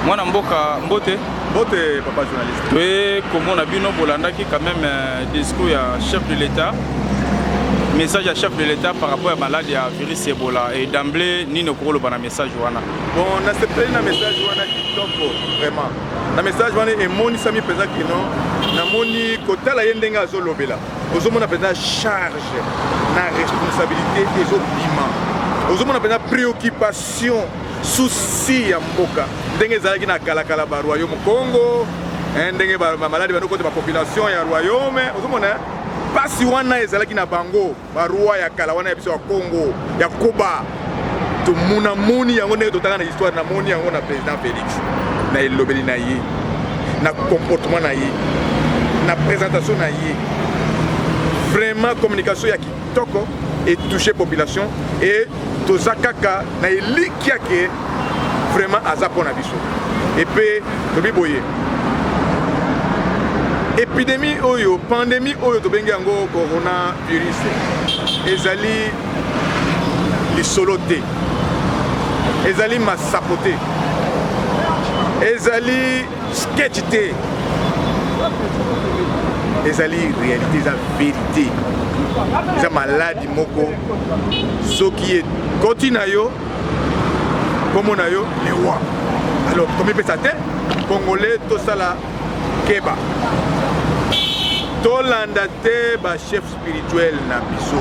mwana mboka mbote mbote papa journaliste toye komona bino bolandaki quand même euh, discours ya chef de l'état message ya chef de l'état par rapport ya malade ya virus ebola et d'emblée nini okoki koloba na message wana bon nasepeli na message wana kitoko vraiment na message wana emonisami mpenza kino namoni kotala ye ndenge azolobela ozomona mpenza charge na responsabilité ezobima ozomona mpenza préoccupation Souci ya mboka ndenge ezalaki na kala kala ba royaume Congo eh, ndenge ba maladi bando kota ba population ya royaume ozomona eh? pasi wana ezalaki na bango ba roi ya kala wana ya biso ya Congo ya Koba tomona moni yango ndenge totanga na histoire na moni yango na président Félix na elobeli na ye na comportement na ye na présentation na ye vraiment communication ya kitoko et toucher population et toza kaka na elikia ke vraiment aza mpo na biso epe tobi boye epidemi oyo pandemi oyo tobengi yango coronavirus ezali lisolo te ezali masapo te ezali sketch te ezali réalité eza vérité eza maladi moko soki ekoti na yo nkombo na yo lewa alors tomipesa te congolais tosala keba tolanda te bachef spirituel na biso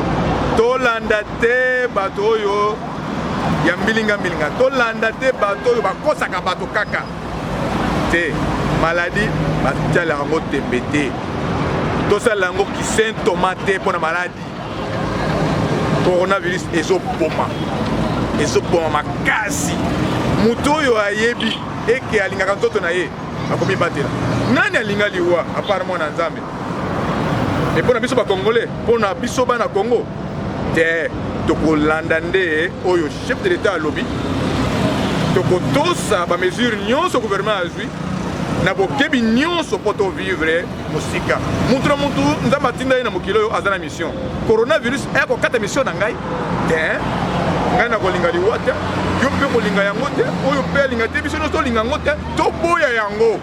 tolanda te bato oyo ya mbilingambilinga tolanda te bato oyo bakosaka bato kaka te maladi batalaka yango tembe te tosalela yango kisentoma te mpo na maladi coronavirus ezoboma ezoboma makasi moto oyo ayebi eke alingaka nzoto na ye akomibatela nani alinga liwa apart mwana nzambe e mpo na biso bakongole mpo na biso bana kongo te tokolanda nde oyo Chef de l'Etat alobi tokotosa ba mesures nyonso gouvernement azwi na bokebi nyonso mpo to vivre mosika mutu na mutu nzambe atinda ye na mokili oyo aza na mission coronavirus ekokata mission na ngai te ngai nakolinga liwa te yo mpe kolinga yango te oyo mpe alinga te biso nyonso tolinga yango te toboya yango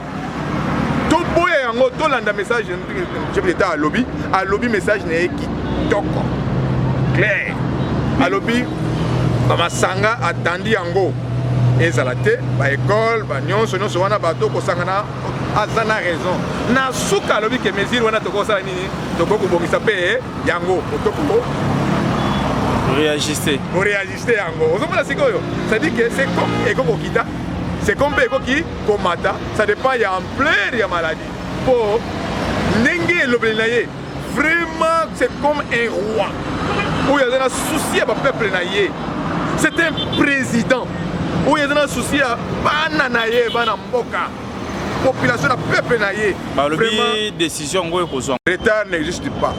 toboya yango tolanda message chef d'état alobi alobi message na ye kitoko clair alobi bamasanga atandi yango ezala te baekole banyonso nyonso wana bato kosangana aza na raison na suka alobi ke mesure wana tokosala nini tokoki kobongisa mpe yango otokoko réagiste oréagiste yango ozomona sikoyo c'est-à-dire que c'est comme ekokokita c'est comme mpe ekoki komata ça dépend ya ampleur ya maladie po ndenge elobeli na ye vraiment c'est comme un roi oyo aza na souci ya bapeuple na ye c'est un président oyo aza na souci ya bana na ye bana mboka population na peuple na ye balobi décision yango ekozwa retard n'existe pas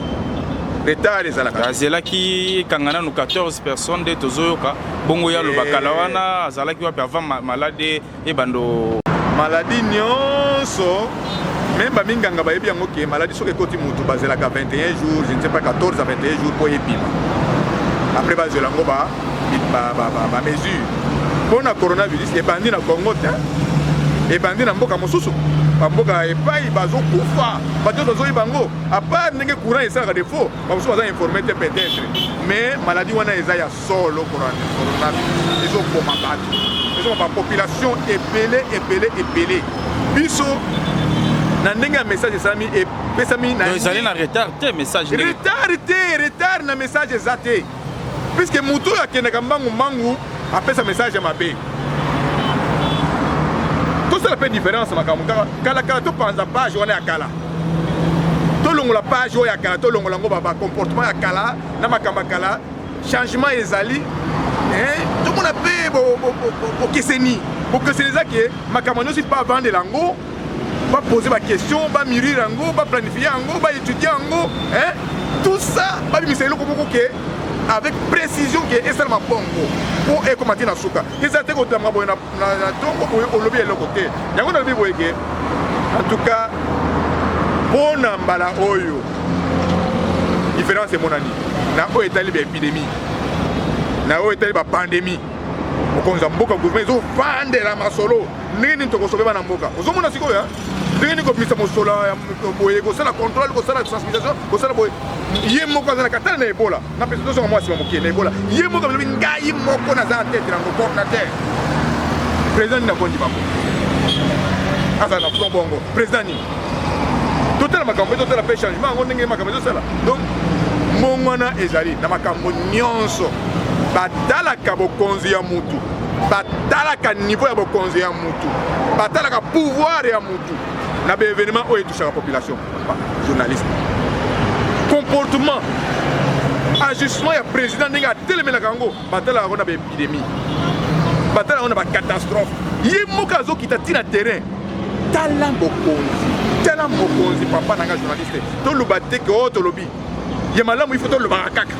retard ezalaka azelaki ekanga nanu 14 personnes nde tozoyoka bongo ye aloba eh. kala wana azalaki wapi avant malade ebando maladie nyonso meme baminganga bayebi yango ke maladi soki ekoti motu bazelaka 21 jours je ne sais pas 14 à 21 jours mpo ebima après bazwela yango bamesure mpo na coronavirus ebandi na congo te ebandi na mboka mosusu bamboka epai bazokufa bato bazoyi bango apart ndenge courant esalaka defaut bamosusu baza informe te peut-être mais maladi wana eza ya solo kona pornografi ezoboma bato ezoma bapopulation ebele ebele ebele biso na ndenge ya message esalami epesami na ezali na retard te message retard te retard na message eza te puiske moto oyo akendaka mbangu mbangu apesa message ya mabe tosala mpe différence makambo kaka kalakala topanza page wana ya kala tolongola page oyo ya kala tolongola yango bacomportement ya kala na makambo ya kala changement ezali eh, tomona mpe bokeseni bokeseni eza ke makambo nyonso mpe bavandela yango bapose baquestion bamurire yango baplanifie yango baétudie yango eh, tout ça babimisa eloko moko ke avec précision ke esalama bongo mpo ekoma te na suka eza te kotambola boye na na, na tongo boye olobi eloko te yango nalobi boye ke en tout cas mpo na mbala oyo différence emonani na oyo etali baepidemie na oyo etali bapandemie mokonzi ya mboka gouvernement ezofandela masolo ndenge nini tokosobe bana mboka ozomona sikoyo ndenge nini kobimisa mosolo ya boye kosala controle kosala sensibilisation kosala boye ye moko azalaka tala na ebola Na pesa tozonga mwa sima moke na ebola ye moko alobi ngai moko naza na tete na coordinateur président nini akondi bango azala na front bongo président nini totala makambo mpe totala mpe changement yango ndenge makambo ezosala donc mbongwana ezali na makambo nyonso batalaka bokonzi ya mutu batalaka niveau ya bokonzi ya mutu batalaka pouvoir ya mutu na baevenement oyo etushaka population journaliste comportement ajustement ya président ndenge atelemelaka yango batalaka yango na baépidémie batalaka yango na bacatastrophe ye moko azokita ntina terrain tala mokonzi tala mokonzi papa na nga journaliste toloba te ke o oh, tolobi ya malamu ifo tolobaka kaka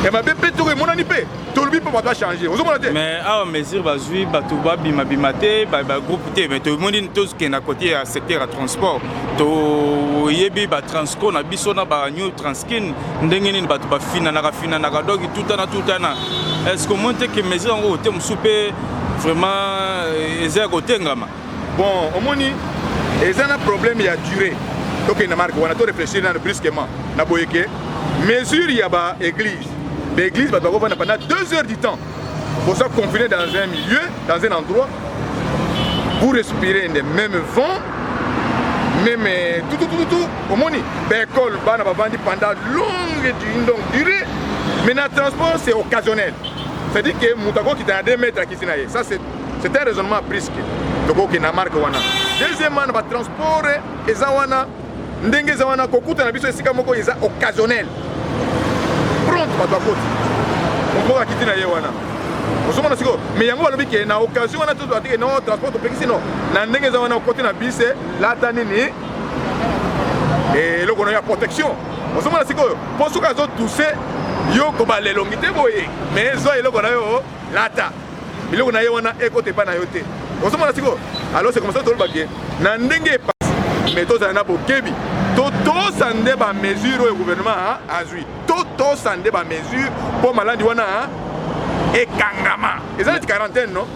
ya mabe mpe toko emonani mpe tolobi mpo bato achange ozomona te mais awa mesure bazwi bato babimabima te bagroupe te mais tomoni tokenda kote ya secteur ya transport toyebi batransco na biso na banew transkin ndenge nini bato bafinanaka finanaka donk tutana tutana est ce que omoni te ke mesure yango kote mosusu mpe vraiment eh, eza ya kotengama Bon, omoni eza na problème ya durée. Tokende marque wana to réfléchir nanu brusquement na boye ke mesure ya ba église ba église bato bakofanda pendant 2 heures du temps boza confine dans un milieu dans un endroit pour respirer le même vent même euh, tout tout tout tout omoni ba école bana bavandi pendant longue donc durée mais na transport c'est occasionnel c'est à dire que moto akokita na 2 mètres akisi na ye ça c'est c'est un raisonnement à prisque tokoki na marque wana deuxièmement na batransport eza wana ndenge eza wana kokuta na biso esika moko eza occasionnel pronte bato akoti moko akiti na ye wana ozomona sikoyo mais yango balobi ke na occasion wana tozo atike no transport topekisi no na ndenge eza wana okoti na bise lata nini eloko na ya protection ozomona sikoyo mpo soki azotuse yo kobala elongi te boye mais zwa eloko na yo lata biloko na ye wana ekota epai na yo te ozomona sikoyo alors c'est comme ça toloba ke na ndenge epasi mais tozala na bokebi totosa nde bamesure oyo gouvernement azwi totosa nde bamesure mpo maladi wana ekangama eza neti quarantaine no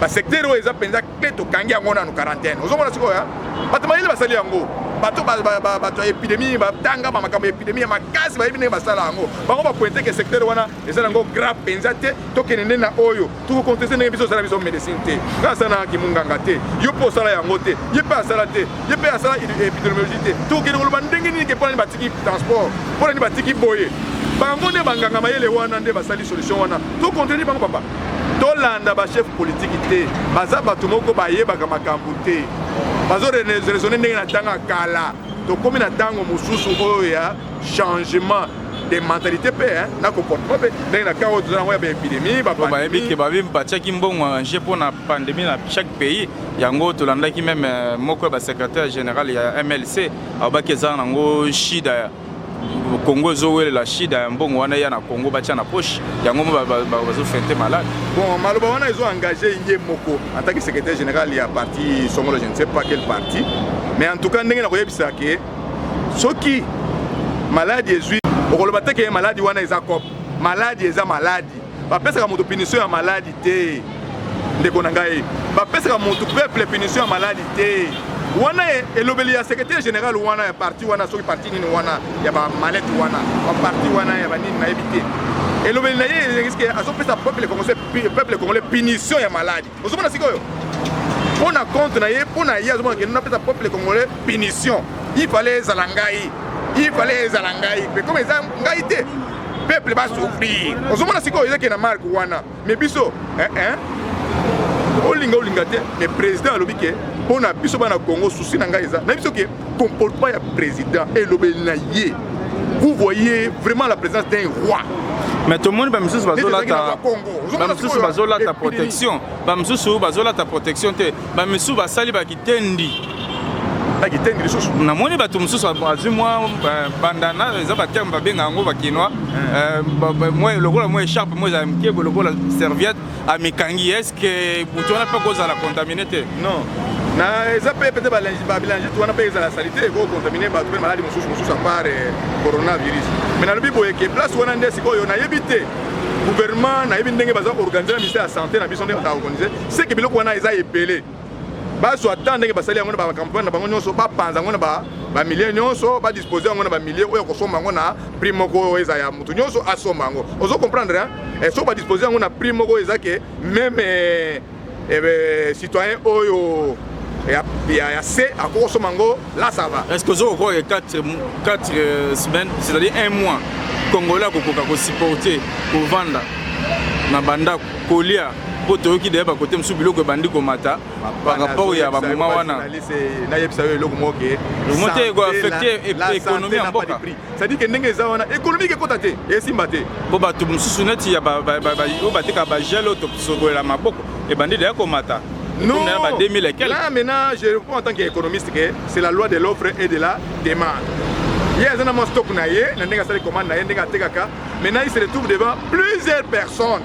basecteur oyo eza mpenza clé tokangi yango nanu quarantaine ozomona sikoyo bato mayele basali yango bato bato ya epidemie batangama makambo ya epidemie ya makasi bayebi ndenge basala yango bango bapointe ke secteur wana eza nango grave mpenza te tokende nde na oyo tokokonteste ndenge biso osala biso médecine te nga asala na kimunganga te yo mpe osala yango te ye mpe asala te ye mpe asala épidémiologie te tokokende koloba ndenge nini ke mpo nani batiki transport mpo nani batiki boye bango nde banganga mayele wana nde basali solution wana tokontreni bango papa tolanda bachef politiki te baza bato moko bayebaka makambo te bazo raisonne ndenge na ntanga kala tokomi na ntango mosusu oyo ya changement de mentalité mpe na comportement mpe ndenge na karo toza yango ya baépidémie bayebi ke babi batiaki mbongo ange mpo na pandémie na chaque pays yango tolandaki meme euh, moko ya basecrétaire général ya mlc alobaki eza nango shida congo ezowelela shida ya mbongo wana eya na congo batya na poche yango bazofente malade bon maloba wana ezo engage ye moko en tant que secrétaire général ya parti songolo je ne sais pas quel parti mais en tout cas ndenge nakoyebisa ke soki maladi ezwi okoloba te ke maladi wana eza cop maladi eza maladi bapesaka moto punition ya maladi te ndeko na ngai bapesaka moto peuple punition ya maladi te wana e, elobeli ya secrétaire général wana ya parti wana soki parti nini wana ya bamalete wana baparti wana ya banini nayebi te elobeli na ye eske azopesa peuple congolais punition ya maladi ozomona sikoyo mpo na compte na ye mpo na ye azomona kende napesa peuple congolais punition il fallait ezala ngai il fallait ezala ngai mpe comme eza ngai te peuple basouffrir ozomona sikoyo ezaki na marke wana mais biso eh, eh. olinga olinga te mais président alobi ke mpo na biso bana congo susi na ngai eza na biso ke Comportement ya president elobeli na ye. Vous voyez vraiment la présence d'un roi. mais tomoni bamisusu bazolata bamisusu bazolata protection bamisusu bazolata protection te bamisusu basali bakitendi bakitendi lisusu namoni bato mosusu azwi mwa bandana eza baterme babenga yango bakinois lokola mwa echarpe mo ezala mokebo lokola serviette amikangi ke moto wana mpe akozala contamine te non na eza mpe pete babilangite wana mpe ezala salite ekokontamine bato mpe maladi mosusu mosusu apart eh, coronavirus mai nalobi boye ke place wana nde sikoyo nayebi te gouvernement nayebi ndenge baza organise na ministère ya santé na biso nde baza organise seke biloko wana eza ebele bazwa temps ndenge basali yango na bacampagne na bango nyonso bapanza yango na bamilie nyonso badispose yango na bamilie oyo akosomba yango na prix moko oyo eza ya moto nyonso asomba yango ozo comprendre eh, soki badispose yango na prix moko eza ke meme eh, eh, citoyen oyo ya, ya, ya se akokosoma yango Là ça va. Est-ce que vous avez 4, 4 semaines, c'est-à-dire un mois, Congolais a ko supporter, ko vendre na banda kolia mpo toyoki deya bakote mosusu biloko ebandi komata par rapport ya bamoma wana nayebisa yo eloko moke eloko moke ekoaffecte ekonomi ya mboka cestadire ke ndenge eza wana ekonomike ekota te esimba te mpo bato mosusu neti oyo bateka bagel oyo tosokolela maboko ebandi deya komata Non, là maintenant, je réponds en tant qu'économiste que c'est la loi de l'offre et de la demande. ye aza na mwa stock na ye na ndenge asali commande na ye ndenge atekaka maintenant il se retrouve devant plusieurs personnes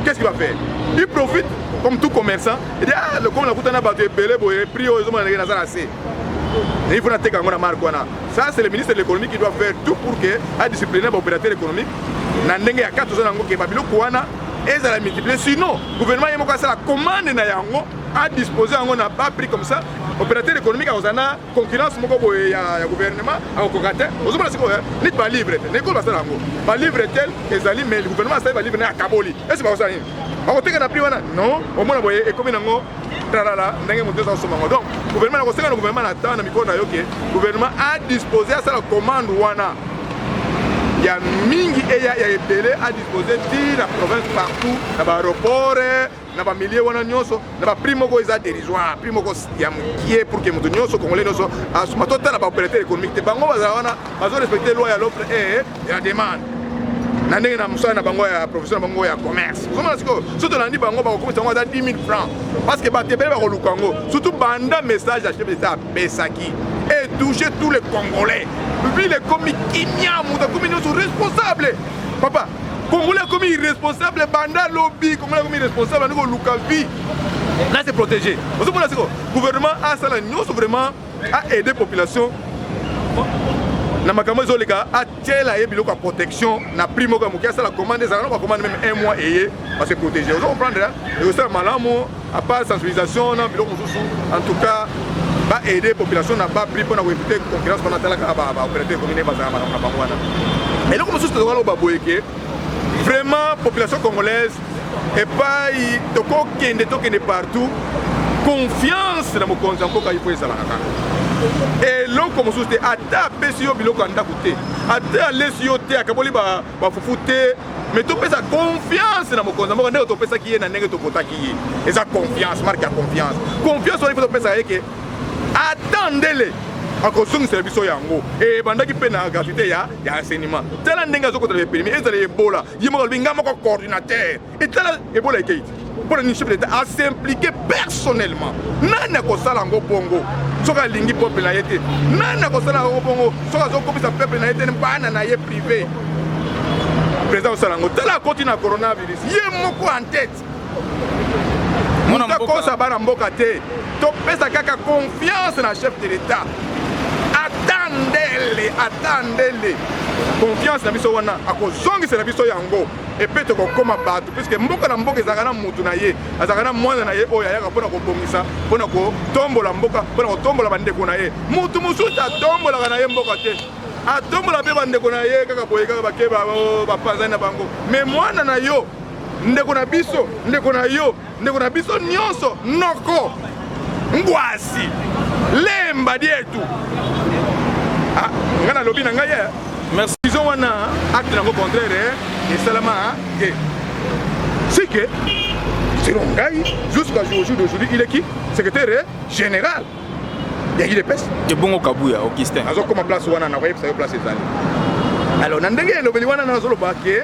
qu'est-ce qu'il va faire il profite comme tout commerçant il dit ah lokola nakutana bato ebele boye prix oyo ezomona ndenge naza na se il faut nateka yango na marque wana Ça c'est le ministre de l'économie qui doit faire tout pour que a discipliner ba opérateurs économiques na ndenge ya kati ozana ngo ke ba biloko wana ezala multiplier sinon gouvernement ye moko asala commande na yango a disposer yango na bas prix comme ça opérateur économique akozala na concurrence moko boye ya, ya gouvernement akokoka te ozomona sikoyo eh, neti balivre te nekolo basala yango balivre tel ezali mais gouvernement asali balivre naye akaboli esi bakosala nini bakoteka na prix wana non omona boye ekomi nango talala ndenge moto eza kosomba yango donc gouvernement nakosenga na gouvernement na temps na mikolo na yo ke gouvernement adispose asala commande wana ya mingi eya ya ebele adispose ti na province partout na baaéroport na bamilie wana nyonso na baprix moko eza dérisoire prix moko ya mokie pour ke moto nyonso congolais nyonso asuma totala baopérateur économique te bango bazala wana bazorespecte loi ya l'offre e ya demande na ndenge na mosala na bango ya profession na bango ya commerce ozomona sikoyo so tolandi bango bakokomisa yango ata 10 000 francs parce que bato ebele bakoluka yango surtout banda message ya chef d'etat apesaki et touche tous les congolais ville ekomi kimia moto akomi nyonso responsable papa congolais akomi irresponsable banda lobi congolais akomi irresponsable andi koluka vie na se protéger ozomona sikoyo gouvernement asala nyonso vraiment a aide population na makambo ezoleka atiela ye biloko ya protection na prix moko ya moke asala commande ezala na bacommande meme un mois eye base protege ozo comprendre ekosala malamu apart sensibilisation na biloko mosusu en tout cas ba aide population na ba prix mpo na koevite concurrence mpona atalaka baopérateur commune bazala makambo na bango wana eloko mosusu tozokaloba boye ke vraiment population congolaise epayi tokokende tokende partout confiance na mokonzi ya mboka ifo ezalaka kaka eloko mosusu te ata apesi yo biloko ya ndako te ata alesi yo te akaboli bafufu ba te mais topesa confiance na mokonzi ya mboka ndenge topesaki ye na ndenge topotaki ye eza confiance marke ya confiance confiance wana ifo topesaka ye ke ata ndele akozongisela biso yango ebandaki mpe na gratuité ya ya enseignement tala ndenge azokotala epelemi ezala ebola ye moko alobi ngai moko coordinateur etala ebola ekei te mpo na nini chef d'état asimplike personnellement nani akosala yango bongo soki alingi peuple na ye te nani akosala yango bongo soki azokopesa peuple na ye te bana na ye privé président osala yango tala akoti na coronavirus ye moko en tete Mwana mboka. Kosa bana mboka te. Topesa kaka confiance na chef de l'État. Atandele, atandele. Confiance na biso wana akozongisela biso yango epe tokokoma bato puiske mboka na mboka ezalaka na motu na ye azalaka na mwana na ye oyo ayaka mpona kobongisa mpona kotombola mboka mpona kotombola bandeko na ye motu mosusu atombolaka na ye mboka te atombola mpe bandeko na ye kaka boye kaka bakeba oh, bapanzani na bango me mwana na yo ndeko na biso ndeko na yo ndeko na biso nyonso noko ngwasi lemba dietu ah, ngai nalobi na ngai eh. merci izo wana acte nango contraire eh. esalama te eh. sike selon ngai jusqu'à jour d'aujourd'hui il est qui secrétaire général ya udps ebongo kabuya augustin azokoma place wana nakoyebisa yo place ezali alors na ndenge elobeli wana nazoloba ke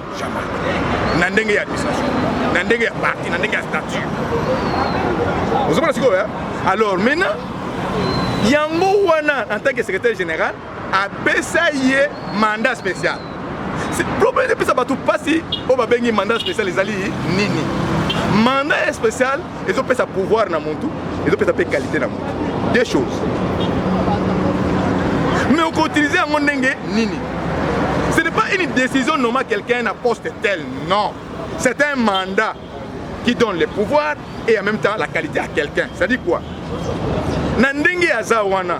Jamais. Na ndenge ya administration, na ndenge ya parti, na ndenge ya statut. Ozomona sikoyo ya? Alors maintenant, yango wana en tant que secrétaire général apesa ye mandat spécial. Problème epesa bato mpasi oyo babengi mandat spécial ezali nini? Mandat spécial ezopesa pouvoir na mutu ezopesa mpe qualité na mutu deux choses mais okoutilize yango ndenge nini ce n'est pas une décision nomma quelqu'un na poste tel non c'est un mandat qui donne le pouvoir et en même temps la qualité à quelqu'un c'est-à-dire quoi na ndenge aza wana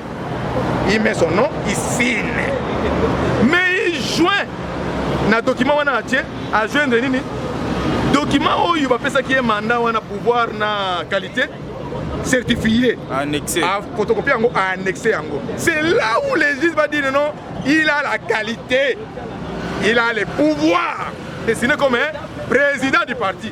il met son nom il signe mais il joint na document wana atie ajoindre nini document oyo bapesaki ye mandat wana pouvoir na qualité certifié photocopie yango annexe yango c'est là où les juges va dire non il a la qualité il a le pouvoir dessiné comme un président du parti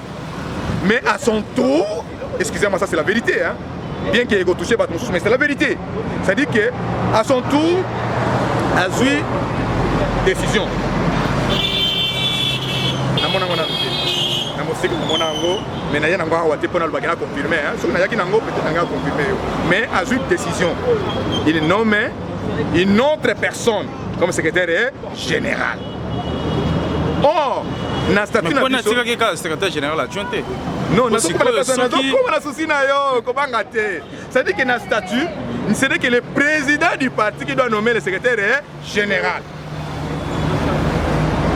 mais à son tour excusez moi ça c'est la vérité hein bien que ekotouche bato mosusu mais c'est la vérité c'est à dire que à son tour azwi décision namona ngo nanu te na moseki komona yango mais naye nango awa te mpo nalobaki na confirme soki nayaki nango peut-être nangai aconfirme yo mais azwi décision il nomme une autre personne comme secrétaire General. Or, na statut na biso. Mpo kaka secrétaire général adjoint te. Non, na soki pala kasa na soki koma na souci na yo, kobanga te. C'est-à-dire que na statut, c'est que le président du parti qui doit nommer le secrétaire général.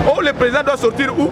Oh, le président doit sortir où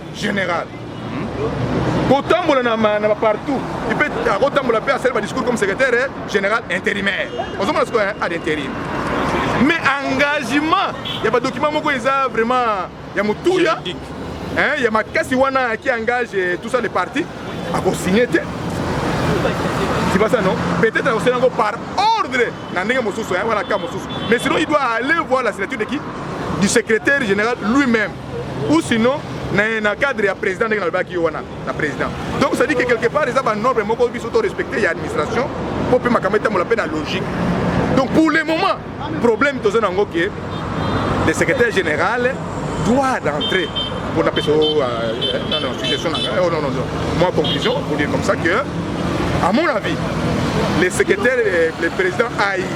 General. kotambola na ma- na bapartout ipe akotambola mpe asali badiscours comme secrétaire eh, général intérimaire ozomona sikoyo eh, ad intérim mais engagement ya badocument moko eza vraiment ya motuya Juridique. hein, ya makasi wana qui engage eh, tout ça les partis akosigne te sibasa non peut-être akosala yango par ordre na ndenge mosusu hein, wana ka mosusu mais sinon il doit aller voir la signature de qui du secrétaire général lui-même ou sinon na, na cadre ya président ndenge nalobaki yo wana na président donc ça dit que quelque part eza banorme moko biso to respecte ya administration mpo mpe makambo etambola mpe na logique donc pour le moment problème toza na yango ke le secrétaire général doit d'entrer pour napesa yo euh, non non suggestion na ngai oh non non non moi conclusion pour dire comme ça que à mon avis le secrétaire euh, le président aïe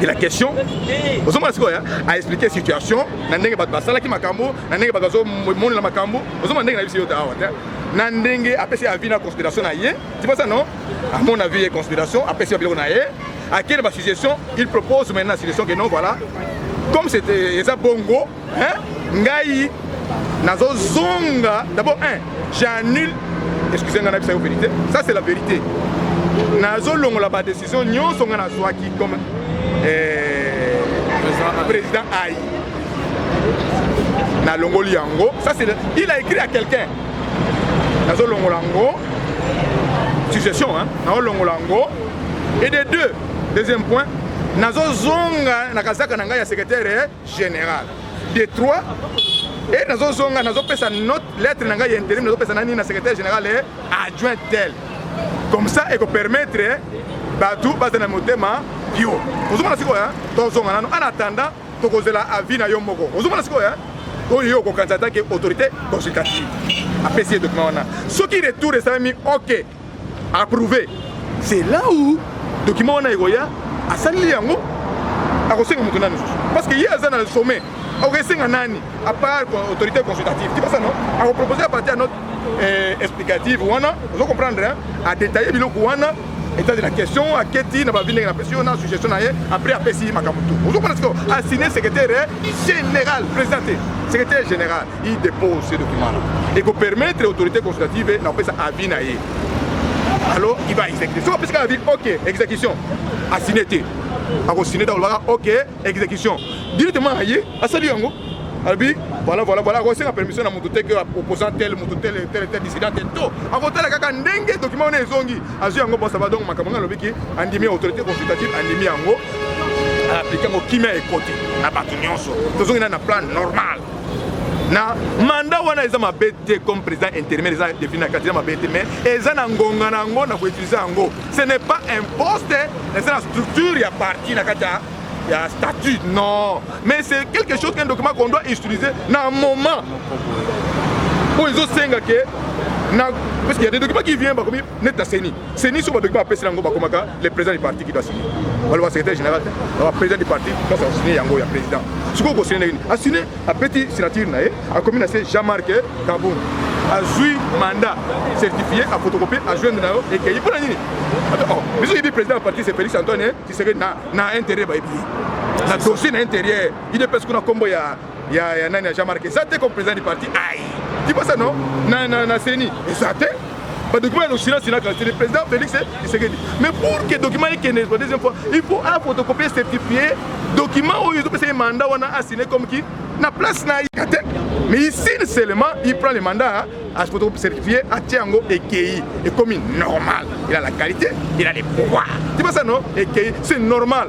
de la question ozomona sikoyo a expliquer situation na ndenge bato basalaki makambo na ndenge bato bazomonela makambo ozomona ndenge na biso yo te awa te na ndenge apesi avis na considération na ye ti posa non amon avis ye considération apesi ya biloko na ye akende basuggestion il propose maintenant suggestion que non voilà comme c'était eza bongo hein ngai nazo zonga d'abord un j'annule excusez ngai nayebisa yo vérité ça c'est la vérité nazo longola ba décision nyonso ngai nazwaki comme eh, président ayi nalongoli yango ça c'est il a écrit à quelqu'un nazo longola yango suggestion hein nazo longola yango et de deux deuxième point nazozonga na kazaka na ngai ya secrétaire General de trois et nazozonga nazopesa note lettre na ngai ya interim nazopesa na nini na secrétaire général et adjoint tel comme ça ekopermettre bato bazala na motema yo ozomona sikoyo tozonga nano en attendant tokozela avis na yo moko ozomona sikoyo oyo yo okokanisa atake autorité consultative apesi ye document wana soki retour esalami ok approuve c'est là où document wana ekoya asali yango akosenga moto nani lisusu parce que ye aza na sommet akokesenga nani à part autorité consultative ti basa no akopropose à partir ya note eh, explicative wana ozo comprendre adetaille biloko wana etat de la question aketi na bavi ndenge napesi yo na suggestion na ye après apesi makambo tu ozo kona sikoyo asigne secrétaire général président te secrétaire général i dépose ce document là ekopermettre autorité consultative na kopesa avis na ye alors il va exécuter soki apesaka avis ok exécution asigne te akosigne te akolobaka ok exécution directement aye asali yango alobi voilà voilà voilà akosenga permission na moto te ke opposant tel moto tel tel tel dissident tel to akotala kaka ndenge document wana ezongi azwi yango bon ça va donc makambo ngai alobi ki andimi autorité consultative andimi yango aplike yango kimia ekoti na bato nyonso tozongi na na plan normal na mandat wana eza mabe te comme président intérimaire eza depuis na kati eza mabe te mais eza na ngonga na yango na koutilize yango ce n'est pas un poste eza na structure ya parti na kati ya ya statut non mais c'est quelque chose qu'un document qu'on doit utiliser na moment oyo ezosenga ke na parce qu'il y a des documents qui viennent bakomi neti na ceni ceni so badoki bapesi yango bakomaka le président du parti qui doit signer baloba secrétaire général te baloba président du parti place akosigner yango ya président sikoyo kosine ndenge nini asine apeti signature na ye akomi na se jean marc kabund azwi mandat certifié afotocopie ajoindre na yo ekeyi mpo na nini oh, biso yebi président ya parti se félix antoine tisekedi na intérêt bayebi na dossier na intérieur idps kuna nkombo ya ya ya nani ya Jean Marc eza te comme président du parti aïe tu penses non na na na CENI eza te ba document ya l'Occident c'est que le président Félix Tshisekedi mais pour que document ekende pour deuxième fois il faut a photocopier certifier document oyo ezopesa ye mandat wana asine comme qui na place na ye te mais ici seulement il prend le mandat à se certifier à Tiango et Kei et comme normal il a la qualité il a les pouvoirs tu vois ça non et Kei c'est normal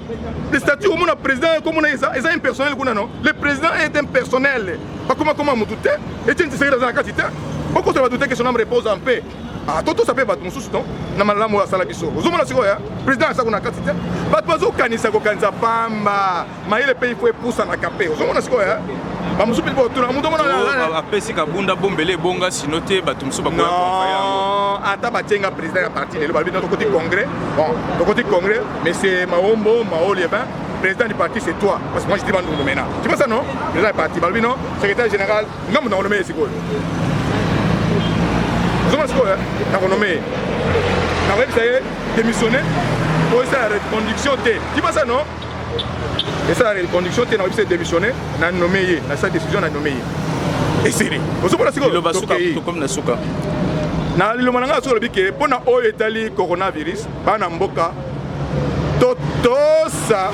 le statut omona président komona eza eza impersonnel kuna non le président est impersonnel bakoma koma motu te etienne tshisekedi aza na kati te okosala bato te que son âme repose en paix atotosa ah, mpe bato mosusu non na malamu oyo asala biso ozomona sikoyo ya président aza kuna kati te bato bazokanisa kokanisa pamba mayele mpe ifo epusanaka mpe ozomona sikoyo ya bamosusu mpe botuna moto omona apesi kabunda bombele ebonga sino te bato mosusu bakoya ata batyenga président ya parti lelo balobi tokoti congrès bon tokoti congrès Monsieur Maombo Maoli, eh ben, président du parti c'est toi. Parce que moi je dis Bandundu maintenant. Tu vois ça non Président du parti, Balbi non Secrétaire général, non, non, non, non, non, ozoma sikoyo nakonome ye nakoyebisa ye démissionne po esala reconduction te kibasa non esala reconduction te nakoyebisa ye démissionne na nome ye nasala décision na nome ye esili ozomona sikoyotokomi na suka na liloba na ngai soki olobi ke mpo na oyo etali coronavirus Bana mboka totosa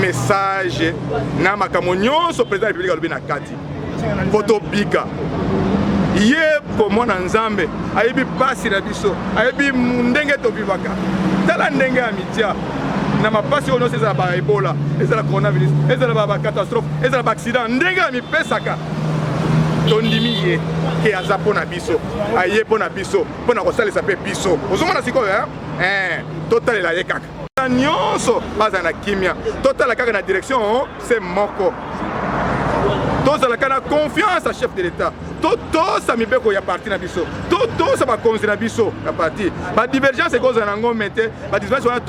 message na makambo nyonso président ya république alobi na kati mpo tobika ye komona nzambe ayebi mpasi na biso ayebi ndenge tobivaka tala ndenge ya mitya na mapasi oyo nyonso ezala baebola ezala coronavirus ezala bacatastrophe ezala baaccident ndenge amipesaka tondimi ye ke aza mpo na biso aye mpo na biso mpo na kosalisa mpe biso ozomona sikoyo eh? eh, totalela ye kaka nyonso bazala na kimia totala kaka na direction oh, se moko tozalaka na confiance ya chef de l'état totosa mibeko ya parti na biso totosa bakonzi na biso ya parti badivergence ekozala na yango me te ba disbase wana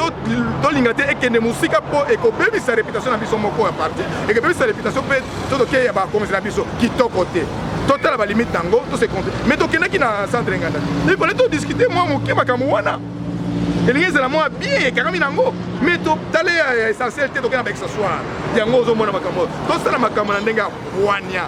tolinga te ekende mosika mpo ekobebisa reputation na biso moko ya parti ekobebisa reputation mpe to tokeya ya bakonzi na biso kitoko te totala balimite yango tose compte mais tokendaki na centre nganda ifale todiscute mwa moke makambo wana elingi ezala mwa bien ekangami na yango mais totale ya essentiel te tokenda baexasoire yango ozomona makambo oyo tosala makambo na ndenge ya bwania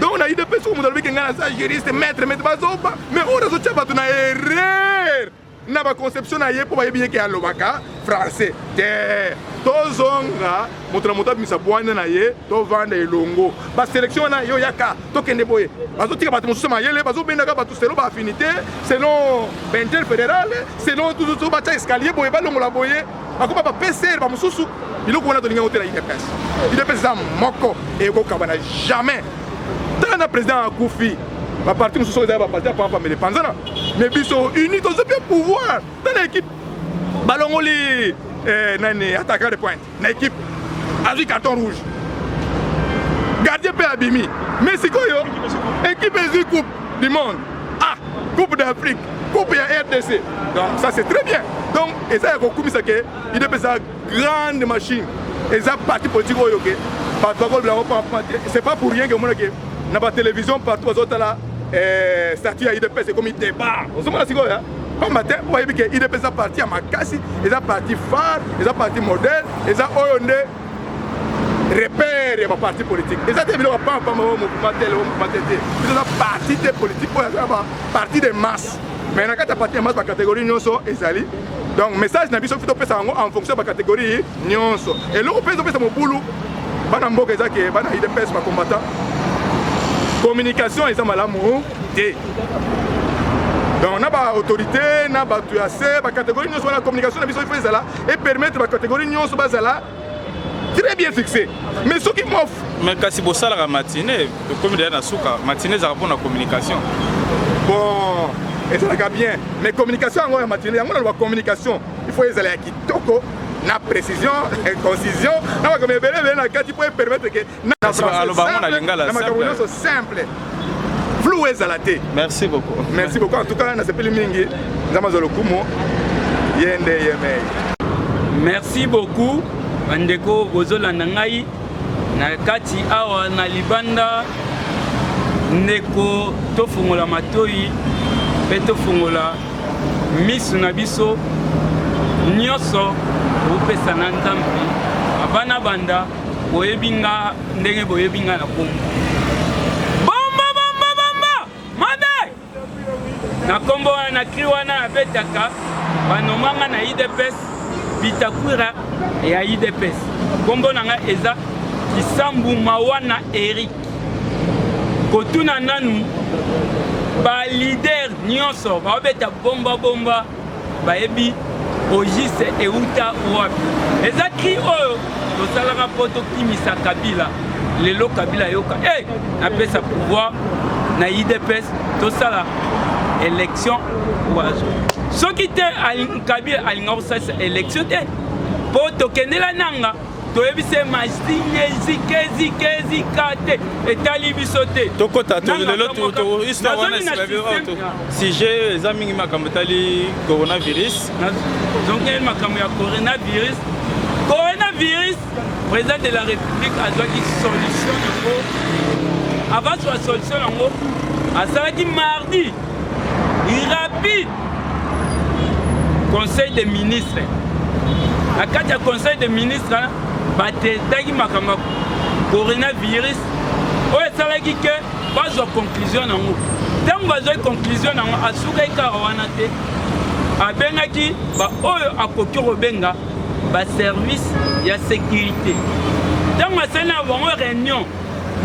donc na idps oyo moto alobiki ngai naza juriste maître maître bazoba mais oyo azotya bato na erreur na baconception na ye mpo bayebi yeke alobaka français te tozonga moto na moto abimisa bwanya na ye tovanda elongo baselektio wana yo yaka tokende boye bazotika bato mosusu mayele bazobendaka bato selon baaffinité selon bainter fédéral selon tututu batya escalier boye balongola boye bakoma ba PCR bamosusu biloko wana tolingi yango te na idps idps eza moko ekokabana jamais tala na président akufi baparti mosusu oyo ezali baparti ya pampamele panzana mais biso uni tozo mpe pouvoir tala équipe balongoli eh, nani attaquant de pointe na équipe azwi carton rouge gardien mpe abimi mais sikoyo équipe ezwi coupe du monde ah coupe d'afrique coupe ya rdc donc ça c'est très bien donc eza ya kokumisa ke idp eza grande machine eza parti politique oyo ke bato bakolobela yango pampa te c'est pas pour rien ke omona ke na batélévision partout bazotala eh, statut ya idps ekomi débat ozomona sikoyo ya pamba te oyebi ke idps eza parti ya makasi eza parti phare eza parti modèle eza oyo nde repère ya baparti politique eza te biloko pampama o mouvement tel o mouvement te te bizoza parti te politique oyo aza baparti de masse mais na kati ya parti ya masse bacatégorie nyonso ezali donc message na biso fi topesa yango en fonction ya bacatégorie nyonso eloko mpe ezopesa mobulu bana mboka eza ke bana idps bacombattant communication eza malamu te donc na baautorité na bato ya se bacatégorie nyonso wana communication na biso ifo ezala e permettre ba catégorie nyonso bazala très bien fixé mais soki mwa mais kasi bosalaka matinée tokomi deya na suka matinée ezalaka mpona communication bon ezalaka bien mais communication yango ya matinée yango naloba communication il faut ezala ya kitoko na précision concision na makambo ebele ebele na kati mpo epermettre ke na français simple flou ezala te merci beaucoup merci beaucoup en tout cas nasepeli mingi nzambe azwa lokumu ye nde yemei merci beaucoup bandeko bozolanda ngai na kati awa na libanda ndeko tofungola matoi mpe tofungola misu na biso nyonso kopesa na nzambe abana banda boyebi nga ndenge boyebi nga na kombo bomba bomba bomba madai na kombo wana na kri wana abetaka banomanga na idps bitakwira ya idps kombo na nga eza kisambu mawana erik kotuna nanu balider nyonso baobeta bombabomba bayebi ogiste euta wapi eza cri oyo tosalaka mpo tokimisa kabila lelo kabila yoka e hey, napesa pouvoir na idps tosala élection wazo soki te kabila alinga kosalisa élection te mpo tokendela nanga toyebi se masinge zikezikeezika te etali biso te tokota lelo histoire wana sujet eza mingi makambo etali coronavirus nazongeli makambo ya coronavirus coronavirus président de la république azwaki solution yango avant zwa solution yango asalaki mardi irapide conseil de ministre na kati ya conseil de ministre batetaki makambo ya coronavirus oyo esalaki ke bazwa conclusion yango ntango bazwaki conclusion yango asukaki kaka wana te abengaki baoyo akoki kobenga baservice ya sécurité ntango asali na bango réunion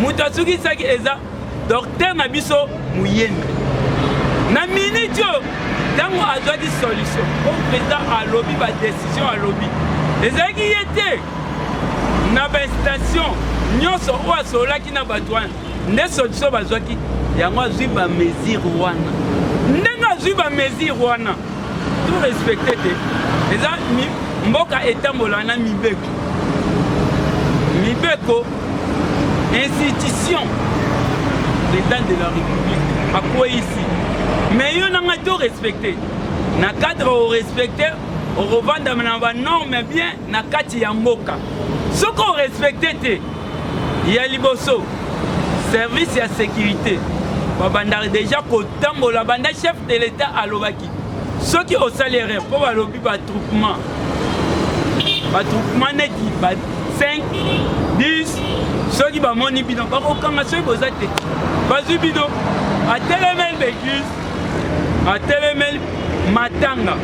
moto asukisaki eza Docteur na biso muyembi na minute oyo ntango azwaki solution po président alobi badecision alobi ezalaki ye te na bainstation nyonso oyo asololaki na bato wana nde solution bazwaki yango azwi bamesure wana ndenge azwi bamesure wana to respecte te eza mboka etambola na mibeko mibeko institution l'état de la république akweisi mais yo na ngai to respecte na cadre orespecte okovandama na banorme bien na kati ya mboka soki orespecte te ya liboso service ya sécurité babandaka deja kotambola banda chef de l'état alobaki soki osali erreur mpo balobi batroupement batroupement neti ba 5 10 soki bamoni bino bakokanga soki boza te bazwi bino atelemeli beglise atelemeli matanga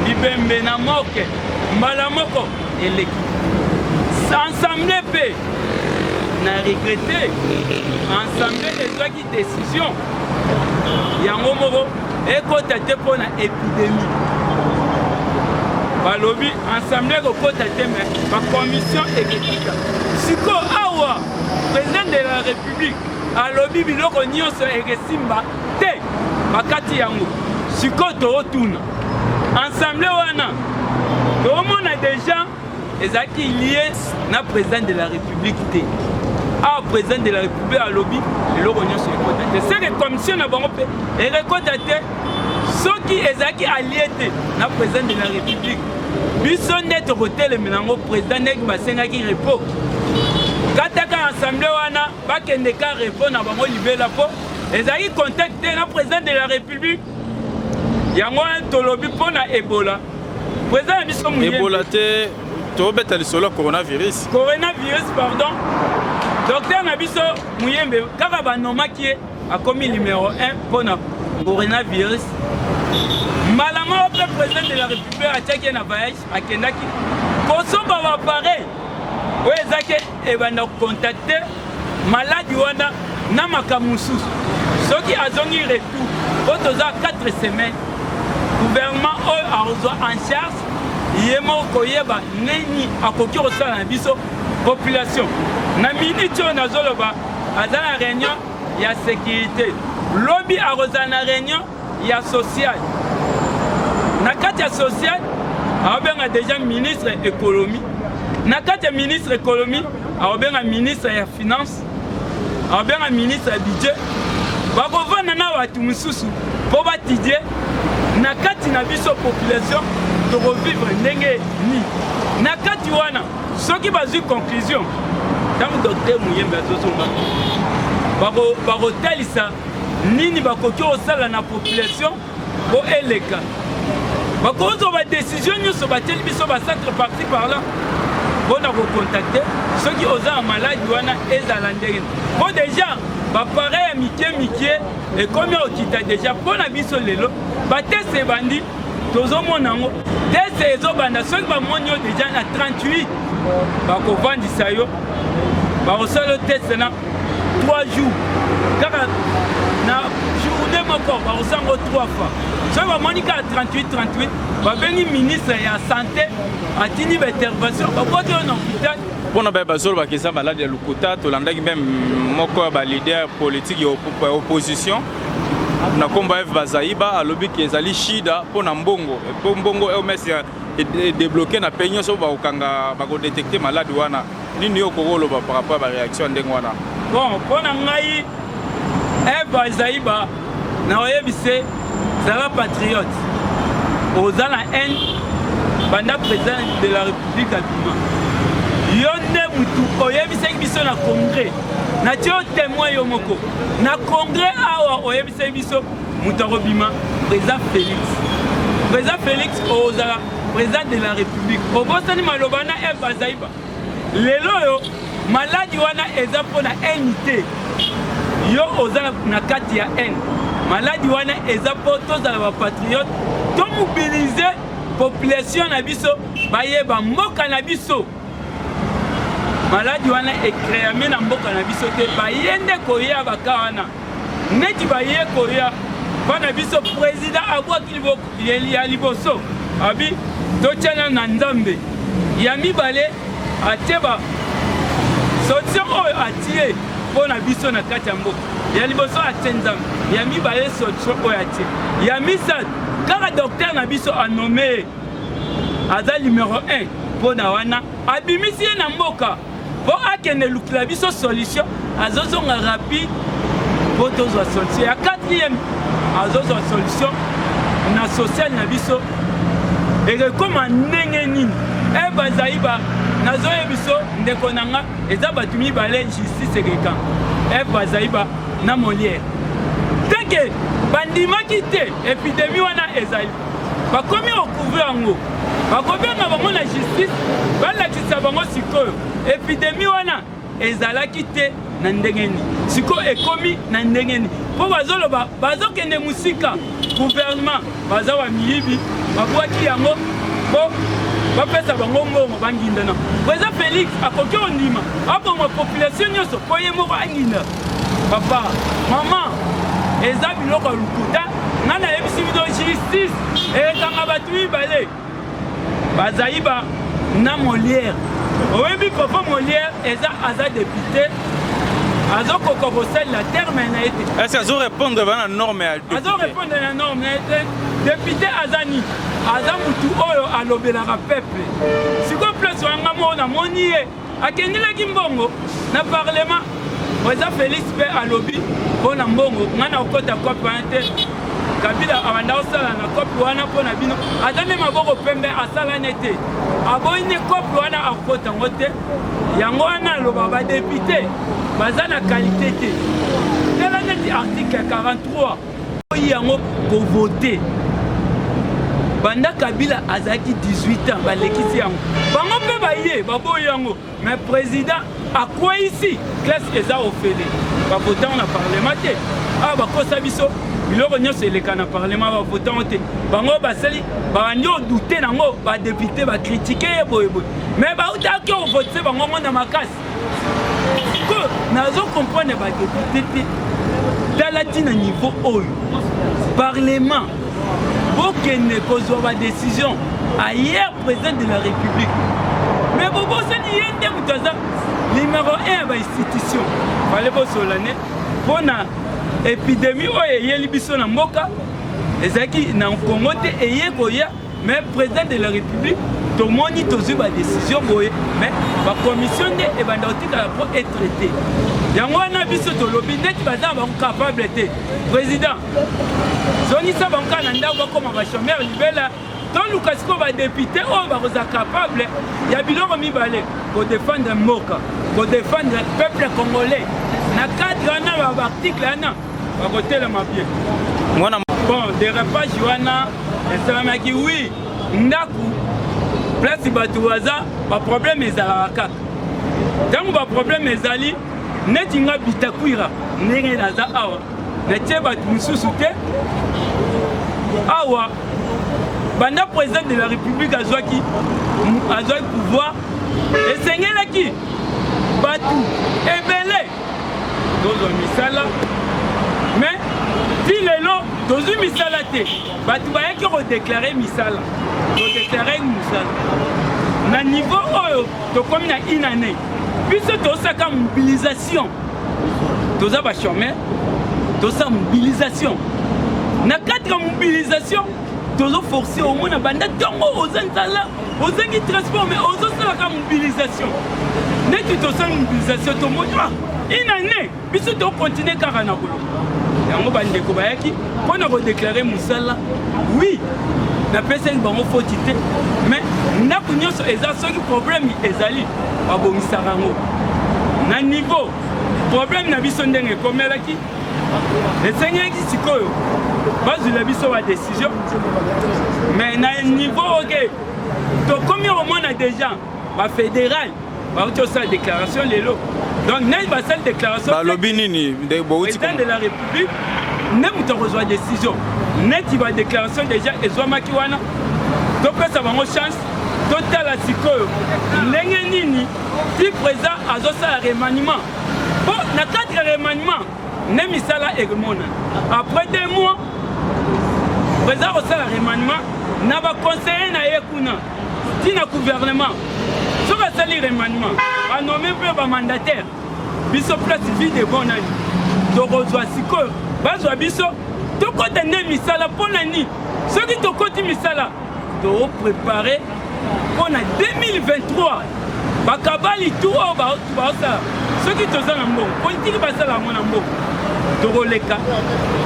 bibembe na moke mbala moko eleki ensemble mpe na regrete ensemble ezwaki décision yango moko ekota te mpo na epidémie balobi ensemble ekokota te me bacommission ekekita sikoyo awa président de la république alobi biloko nyonso ekesimba te bakati yango sikoyo tootuna Ensemble wana toomona deja ezalaki lie na président de la république te awa président de la république alobi eloko nyonso ekota te seke commission na bango mpe ekekota te soki ezalaki alie te na président de la république biso nde tokotelemela yango président ndenge basengaki repos kataka assemblée wana bakende ka repos na bango libela mpo ezalaki contact te na président de la république yango wana tolobi mpo na ebola po eza na biso ebola te tobeta lisolo ya coronavirus coronavirus pardon docteur na biso muyembe kaka banomaki ye akomi numero 1 mpo na coronavirus mbala moko mpe président de la république atiaki ye na voyage akendaki kosomba bapareil oyo ezaki ebanda kocontacte maladi wana na makambo mosusu soki azongi retour oyo toza 4 semaine gouvernement oyo akozwa en charge ye moko koyeba nini akoki kosala na biso population na miniti oyo nazoloba aza na réunion ya sécurité lobi akozala na réunion ya social na kati ya social aobenga deja ministre economie na kati ya ministre economie aobenga ministre ya finance aobenga ministre ya budget bakovanda na bato mosusu mpo batidie na kati na biso population tokovivre ndenge nini na kati wana soki bazwi conclusion ntango docteur moyembe azozonga bakotalisa nini bakoki kosala na population po eleka bakozwa badesizio nyonso batieli biso bacentre parti parlant mpo na kokontakte soki oza na maladi wana ezala ndenge mpo deja bapareil ya mike mike ekomi okita deja mpo na biso lelo bateste ebandi tozomona yango teste ezobanda soki bamoni yo deja na 38 bakofandisa yo bakosala yo teste na 3 jours kaka na journée moko bakosango 3 fois soki bamoni kaka 38 38 babengi ministre ya santé atindi baintervention baboti oyo na hopital mpo na baye bazolobaka eza maladi ya lokuta tolandaki mpe moko ya balider politike ya opposition na nkombo ya eve bazaiba alobi ke ezali shida mpo na mbongo mpo mbongo ems edebloke na mpe nyonso bakokanga bakodetekte maladi wana Nini yo okoki koloba par rapport ya bareaction ndenge wana? Bon, mpo na ngai Eva Zaiba na oyebise zala patriote, oza na haine banda president de la république abima yo nde mutu oyebisaki biso na congrès natie yo témoin yo moko na congrès awa oyebisaki biso moto akobima président félix président félix ozala President de la Republique, obosani maloba na Eve Bazaiba. Lelo oyo maladi wana eza mpo na haine te. Yo oza na kati ya haine. Maladi wana eza mpo tozala ba patriote, to mobiliser population na biso bayeba mboka na biso. Maladi wana ekreame na mboka na biso te, baye nde koya baka wana neti baye koya bana biso president abwaki liboko Ya liboso abi totyana na Nzambe, ya mibale atie ba solution oyo atie mpo na biso na kati ya mboka. Ya liboso atie Nzambe, ya mibale solution oyo atie, ya misato kaka docteur na biso anome aza numero 1 mpo na wana abimisi ye na mboka. po akende lukila biso solution azozonga rapide po tozwa solution ya quatrième azozwa solution na social na biso ekekoma ndenge nini e bazali ba nazoye biso ndeko na nga eza bato mibale justice ekeka e bazali ba na moliere teke bandimaki te epidemi wana ezali bakomi kokuve yango bakobenga bango na justice balakisa bango sikoyo epidemi wana ezalaki te na ndenge nini sikoyo ekomi na ndenge nini mpo bazoloba bazokende mosika guvernema baza wa miyibi babwaki yango mpo bapesa bango mbongo bangindana president felix akoki ondima aboma population nyonso mpo ye moko anginda papa mama eza biloko ya lokuta ngai nayebisi bino justice ekanga bato mibale bazaiba na molière oyebi papa molière eza aza depute azokoka kosalela terme na ye te ese azorépondre bana norme ya azorépondre na norme na ye te depute aza nini aza motu oyo alobelaka peuple sikoyo place wanga moko namoni ye Akendelaki mbongo na parlement. President Felix pe alobi mpo na mbongo ngai nakokota cop wana te kabila abanda kosala na kope wana mpo na bino aza nde maboko pembe asala ne te aboyi nde kope wana akota yango te yango wana aloba badepute baza na kalite te tala neti article 43 Oyi yango ko voter banda kabila azalaki 18 ans balekisi yango bango mpe baye baboyi yango mais président akweyisi classe eza ofele bavotango na parlement te awa bakosa biso biloko nyonso eleka na parlement bavotango te bango basali babandi odute nango badepute bakritike ye boyeboye mais bautaki ovotise bango ngo na makasi sikoyo nazo comprendre ya badepute te tala ntina niveau oyo parlement bokende kozwa badecision ailleurs président de la république mais bobosani ye nde moto aza nimero 1 ya bainstitution fale bosolane mpo na epidemi oyo eyeli biso na mboka ezalaki na kongo te eye koya mais président de la république tomoni tozwi badécision boye mais bacommission nde ebanda kotikala mpo etraite yango wana biso tolobi neti baza na bango capable te président zongisa bango kaka na ndako bakoma bachomeur libela toluka sikoyo badepute oyo bakozala capable ya biloko mibale kodefendre mboka kodefendre peuple congolais na cadre wana baarticle wana bakotelema bien mwana bon derapage wana esalamaki wi ndako place bato baza baproblème ezalaka kaka ntango baproblème ezali neti nga bitakwira ndenge naza awa natie bato mosusu te awa banda président de la république azwaki azwaki pouvoir esengelaki bato ebele tozwa misala me ti lelo tozwi misala te bato bayaki kodeklare misala todeklare misala na niveau oyo tokomi na une année biso tosaka mobilisation toza bachomeur tosala mobilisation na kati ya mobilisation tozoforce omona banda ntongo oza nzala ozangi transport mais ozosala ka mobilisation neti tosala mobilisation tomoni ah, une année biso tokontinue kaka na koloba yango bandeko bayaki mpo na kodeklare mosala oui napesaki bango foti te mais ndako nyonso eza soki problème ezali babongisaka yango na niveau problème na biso ndenge ekomelaki esengeli sikoyo bazwila biso ba décision mais na niveau oke tokomi komona déjà bafédéral bauti osala déclaration lelo donc nani basali déclaration balobi nini président de la république nde moto akozwa décision neti badéclaration déjà ezwamaki wana topesa bango chance totala sikoyo ndenge nini ti président azosala remaniement po na kati ya remaniement nde misala ekomona après deux mois président kosala remaniement na baconseiller na ye kuna ti na gouvernement soki asali remaniement banome mpe bamandataire biso place vide bon nani tokozwa sikoyo bazwa biso tokɔta nde misala mpo na nini soki tokɔti misala To prepare mpo na 2023 bakabali tu oyo baosala soki toza na mbongo politiki basala yango na mbongo tokoleka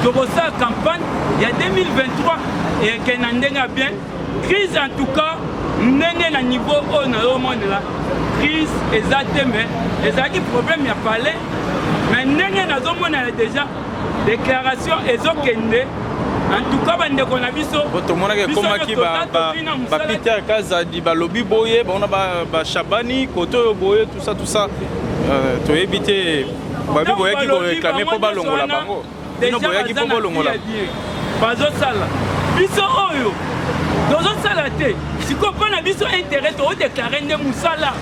tokosala campagne ya 2023 eke na ndenge ya bien crise en tout cas ndenge na niveau oyo nayomonela crise eza te me ezalaki problème ya palais me ndenge nazomonela deja Declaration ezokende antuka bandeko na biso tomonaki ekomaki bapeter kazadi balobi boye bango na bashabani kote oyo boye tusa tusa euh, toyebi te babi boyaki koreklame mpo balongola bango bino boyaki mpo bolongola bazosala biso oyo tozosala te sikoyo mpo na biso intérêt toodeklare nde mosala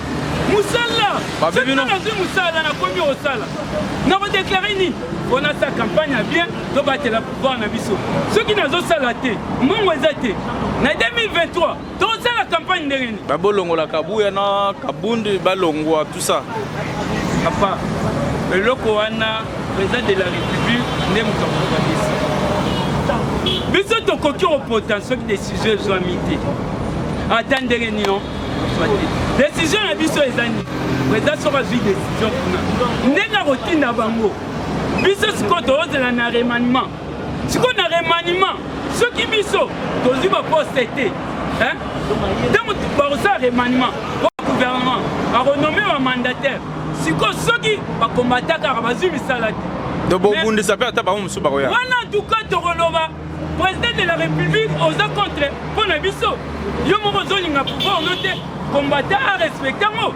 mosala soki nazwi mosala nakomi osala nako deklare nini mpo nasala kampagne ya bien tobatela pouvoir na biso soki nazosala te mbongo eza te na 2023 tosala kampagne ndenge nini babolongola kabuya na kabundi balongwa tout ça papa eloko wana président de la république nde moto akokanisi biso tokoki kopota soki desizio ezwami te ata ndenge nino decision na biso eza nini eza soki azwi decision kuna ndenge akotinda bango biso sikoyo toozela na remaniement sikoyo na remaniement soki biso tozwi baposte te ntango bakosala remaniement po gouvernement akonome bamandataire sikoyo soki bakombatakaka bazwi misala te tobobundisa mpe ata bango mosusu bakoya wana tuka tokoloba President de la Republique oza contre mpo na biso yo moko ozolinga pouvoir no te combattant a respecte yango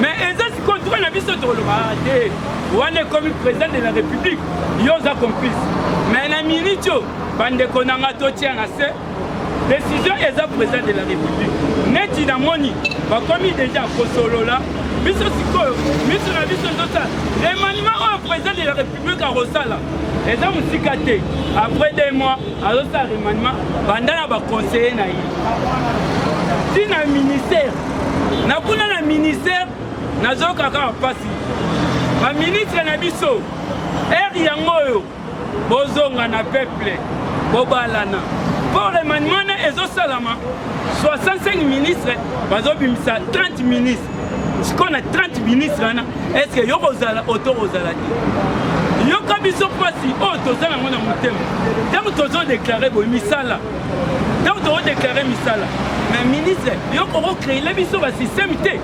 mais eza sikoyo ntuka na biso tokoloba te wana ekomi president de la République yo oza complice mais na minute oyo bandeko na nga totia na se décision eza président de la république neti namoni bakomi deja kosolola biso sikoyo miso na biso ezosala emanima oyo président de la république truc akosala eza mosika te après deux mois azosala remaniement banda na baconseiller na ye ti na ministère na kuna na ministère nazokaka mpasi baministre na biso ere yango oyo bozonga na peuple bobalana mpo remaniement na ezosalama 65 ministre bazobimisa 30 ministre sikoyo na 30 ministre wana estce yo kozala oto kozala te yoka biso mpasi oyo oh, toza nango na motema ntango tozodeklare boye misala ntango tokodeklare misala na ministre yo kokokreile biso basysteme te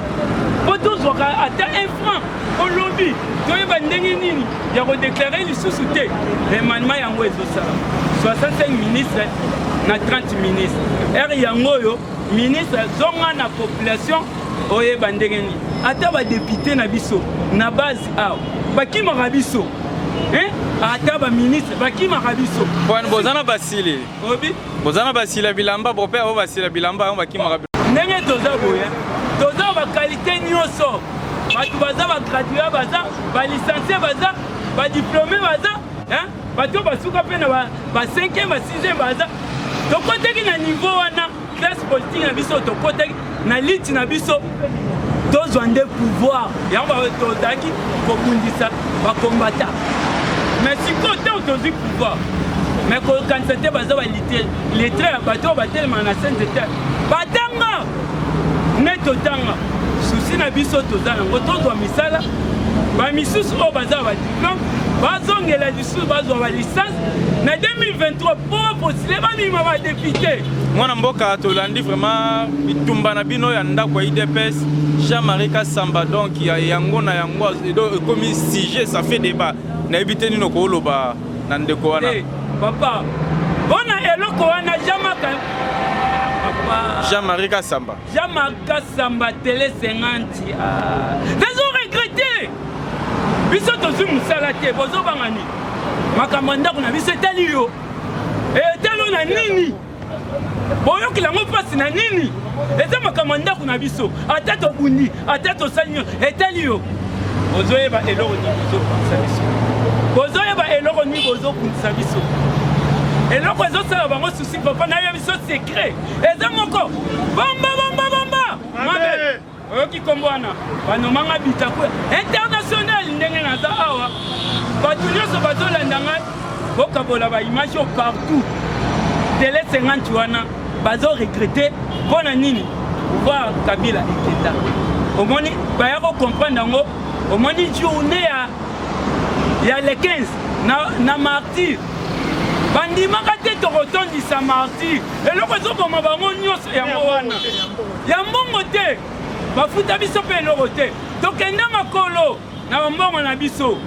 mpo tozwaka ata un franc olobi toyeba ndenge nini ya kodeklare lisusu te emanema yango ezosala 65 ministre na 30 ministre ere yango oyo ministre zonga na population oyeba ndenge nini ata badepute na biso na base awa bakimaka biso eh? ata baministre bakimaka biso bwana boza na basili obi boza na basila bilamba bope yango basila bilamba yango bakimaka ndenge toza boye toza bakalite nyonso bato baza bagradua baza balicencie baza badiplome baza bato basuka mpe na ba 5e ba 6e baza tokoteki na niveau wana classe politique na biso tokotaki na liti na biso tozwa nde pouvoir yango tozalaki kobundisa bakombata me sikoyo ntango tozwi pouvoir me kokanisa te baza balite letre ya bato oyo batelemaka na sainte te batanga nde totanga susi na biso toza nango tozwa misala bamisusu oyo baza badiplome bazongela lisusu bazwa ba licence na 2023 mpo bapostile bamima ba depute mwana mboka tolandi vraiment bitumba na bino ya ndako ya idps jean marie kasamba donc ya yango na yango ekomi sujet ça fait débat nayebi te nini okooloba na ndeko wana hey, eh, papa mpo na eloko wana jamaka jean marie kasamba Jean Marc Samba Tele 50 ah. Nazo regrette biso tozwi mosala te bozobanga nini makambo ya ndako na biso etali yo etalo na nini boyokela yango mpasi na nini eza makambo ya ndako na biso ata tobundi ata tosali nyo etali yo bozoyeba eloko nini bozobundisa biso bozoyeba eloko nini bozobundisa biso eloko ezosala bango susi papa nayebi biso secret eza moko bomba bomba bomba mabe oyoki kombo wana banomanga bitaku international ndenge naza awa bato nyonso bazolanda ngai bokabola baimage oyo partout tele 50 wana bazo regrete mpo na nini pouvoir kabila ekenda omoni baya kocomprendre yango omoni journée ya ya le 15 na, na martyr bandimaka te tokotondisa martyr eloko ezoboma bango nyonso yango wana ya mbongo te bafuta biso mpe eloko te tokende makolo na bambongo na biso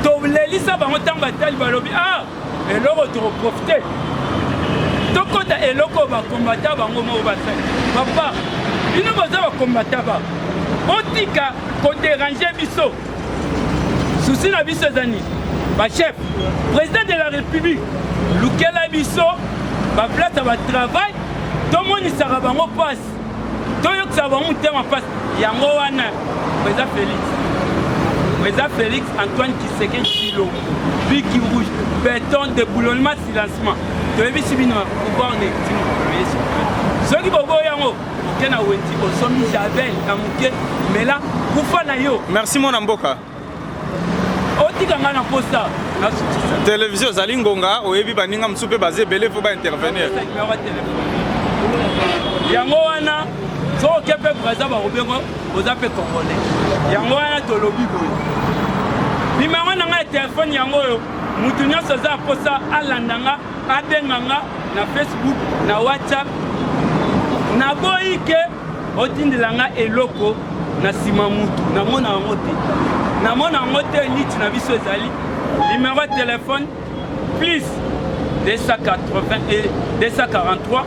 tolelisa bango ntango batali balobi a ah, eloko tokoprofite tokota eloko bakombata bango moko basali papa bino boza bakombata ba botika koderange biso souci na biso eza nini bachef président de la république lukela biso baplace ya batravail tomonisaka bango mpasi toyokisaka bango motema mpasi yango wana président félix président félix antoine kiseke kilo biki rouge beton deboulonnement silencement toyebisi bino pouvoir legitime soki boboyi yango Moke na wenzi ozomi javel na moke mela kufa na yo. Merci mwana mboka. Otika nga na posa. Televizio ozali ngonga oyebi baninga mosusu mpe baza ebele mpo baintervenir. Yango wana soki oke mpe braza bakobengo oza mpe congolais. Yango wana tolobi boye. Nimero na ngai ya telefone yango oyo moto nyonso aza mposa alanda nga Abenga nga na Facebook, na WhatsApp. Naboyi ke otindela nga eloko na sima mutu. Namona yango te. Namona yango te niti na biso ezali. Numéro de téléphone plus 280 et 243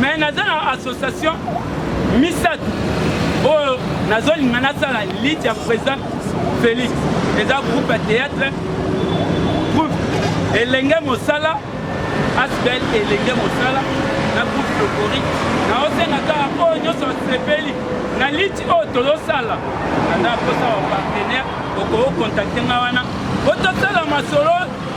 mais naza na association misato oyo oh, nazolinga nasala lite ya président félix eza groupe ya théâtre groupe elenge mosala asbel elenge mosala na groupe lokori naosenga kaka oyo oh, nyonso asepeli na lite oyo oh, tozosala naza kosa ba partenaire okokontacte nga wana po tosala masolo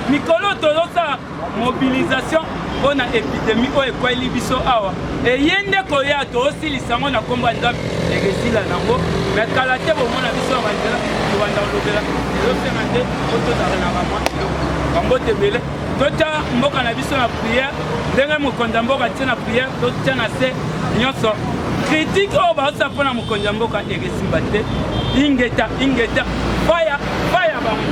mikolo tozosala Mobilisation mpo na epidemi oyo ekweli biso awa eye nde koya toosilisa yango na nkombo ya nzambe ekesila nango me kala te bomona biso ya banzela tobanda kolobela ezosenga nde po tozala na bamwa eloko bambote ebele totya mboka na biso na priere ndenge mokonzi ya mboka tie na priere totya na se nyonso kritike oyo baosala mpo na mokonzi ya mboka ekesimba te ingeta ingeta faya faya bango